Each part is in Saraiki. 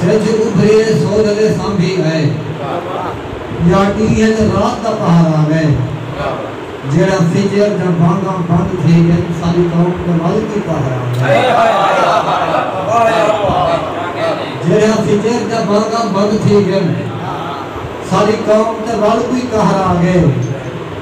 سجھ ابھریے سورلے سانبھی آئے یا ڈینہہ تے رات دا پہرہ آوے جیڑھا فجر دیاں بانگاں بند تھی ڳئن ساݙی قوم دے ول دی پہرہ آوے جیڑھا فجر دیاں بانگاں بند تھی ڳئن ساݙی قوم دے ول کوئی قہر آوے۔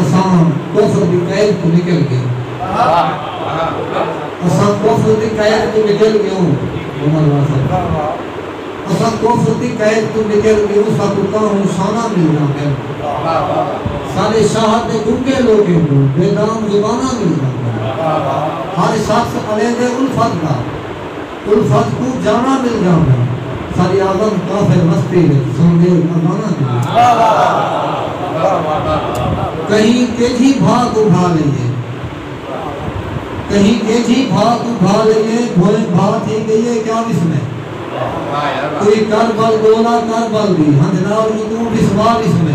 اساں کفر دی قید توں نکل گیوں۔ اساں کفر دی قید توں نکل گیوں۔ عمر واہ سا اساں کفر دی قید توں نکل گیوں ساکوں کاہوں شاناں ملداں پئن۔ ساڈے شاہ تے گنگے لوگیں کوں بے دام زباناں ملداں پئن۔ ہر شخص الیندے الفت دا۔ الفت کوں جاواں مل جاوے۔ ساری آدم کافر مستی وچ سن دے اذاناں دی۔ کہیں کیجھی بھا کوں بھا لئیے۔ کہیں کیجھی بھا کوں بھا لئیے بھوئیں بھا تھی گئیے کیا وسمے۔ کوئی کر بل ڈولا کر بل دی ہنجھ نال ای توں وسوا وسمے۔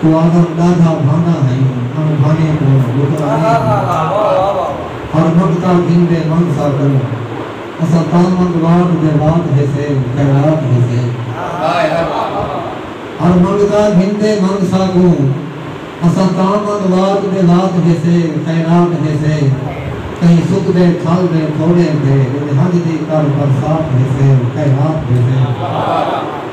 توں آدم ݙاڈھا بھاندا ہئیں اوں بھانے کوں لکنا نئیں ہندا ہر نکتہ گھندے من سا کوں اساں تاں منگ واٹ دے وات ہیسے خیرات ہیسے ہر منگتا گھندے من سا کوں اساں تاں منگ واٹ دے وات ہیسے خیرات ہیسے کہیں سکدے کھل دے تھوڑیں تے ونجھ دی کر برسات ہیسے خیرات ہیسے۔